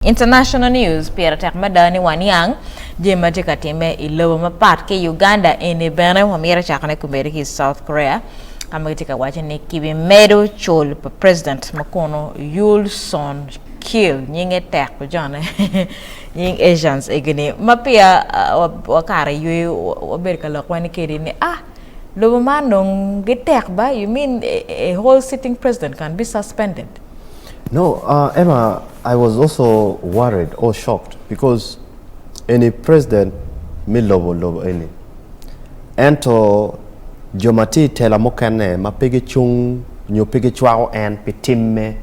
International News, Pire tek mada ni waniang jami ma tye ka timme i lobo mapat ki i Uganda eni bene. Wamito cakone komedi ki i South Korea ka ma gitye ka waco ni kibimedo col pa president ma kono Yool Soon Kil, nyinge tek ojone nying Asians egini ma peya wakato i yweyo wabedo ka lok wene kedi ni ah lobo man dong gitek ba, you mean a whole sitting president can be suspended? No, uh, Emma, I was also worried or shocked because eni president me lobo lobo eni. Ento jo ma tye i tela mukene ma pe gicung nyo pe gicwako en pi timme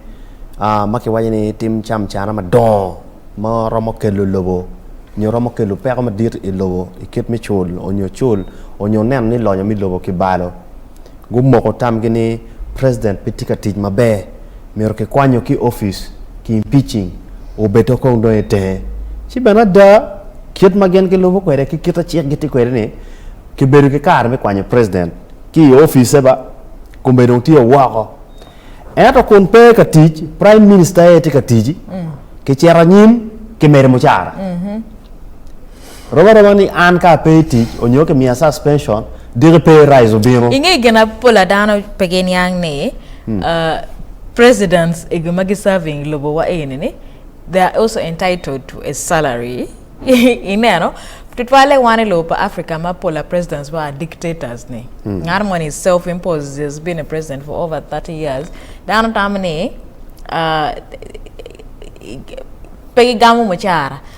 uh, ma kiwaco ni tim camcana madongo ma romo kelo lobo nyo romo kelo peko madit i lobo i kit me cul onyo cul onyo neno ni lonyo me lobo kibalo. Gumoko tamgi ni president pe tye ka tic maber, myero kikwanyo ki office ki impeaching obedde kong dong itenge. Ci bene ada, kit ma gin gilubo kwede ki kit ma cik gitye kwede ni kibedo ki kare me kwanyo president ki i office ba, kome dong tye woko. Ento kun pe ka tic, prime minister aye tye ka tic ki cito anyim ki medo mucara. Rom aroma ni an ka ape i tic onyo ki miya suspension, diki pe raise obino. Inge gin ma pol a dano pe giniang ni presidents egi ma gi serving i lobo wa eni ni they are also entitled to a salary ineno tutwalle wan i lobo pa Africa ma pola presidents wa are dictators ni ngat moni is self imposed he has been a president for over 30 years dano tamo ni pe gi gamo mucara.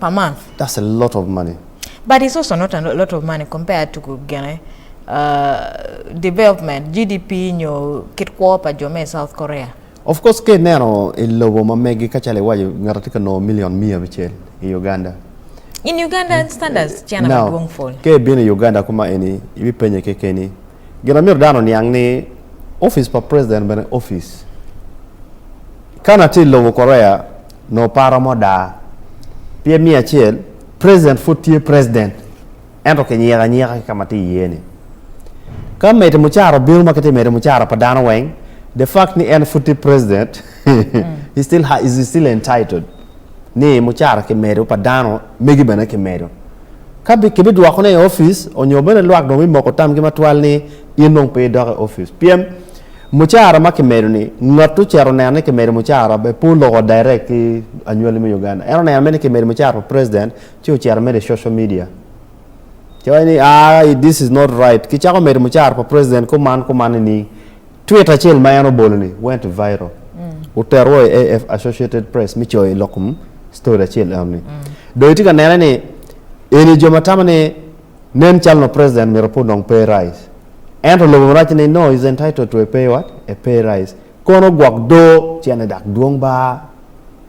pa man. That's a lot of money. But it's also not a lot of money compared to gene uh, development, GDP nyo kit kwo pa jo me South Korea. Of course ke neno i lobo ma megi ka calo iwaco ngata tye ka nongo million mia abicel i Uganda. In Uganda eh, standards eh, cena now, madwong ful. Ke ibino i Uganda kuma eni ibi penye kekeni. Gina myero dano niang ni office pa president bene office. Kana tye i lobo Korea nongo pe aromo daa. Pyem miya acel, President pud tye President ento kinyiko anyika ki ka ma tye iye-ni. Ka Mete Mucara obino ma kitye Mete Mucara pa dano weng, the fact ni en pud tye President, he still ha, is still entitled ni Mucara kimedo, pa dano megi bene kimedo. Ka bi, kibidwokone i office, onyo bene lwak dong bimoko tamgi matwal ni in dong pe idok i office. Pyem, Mucara ma kimedo ni, Ngat ocito neno ni kimedo mucara pe oloko direct ki anywali me Uganda. En oneno mere ni kimedo mucara pa president ci ocito medo i social media ci waco ni aah this is not right kicako medo mucara pa president kuman kuman nining. Tweet acel ma en obolo ni went viral otero wa i AF, Associated Press me coyo lok story acel eno ni. Dong itye ka nene ni eni jo ma tamo ni Nen calo nongo president myero pud nongo pay rise. Ento lobo marac ni no is entitled to a pay what? A pay rise. Kono gwok doo cene dak dwong baa.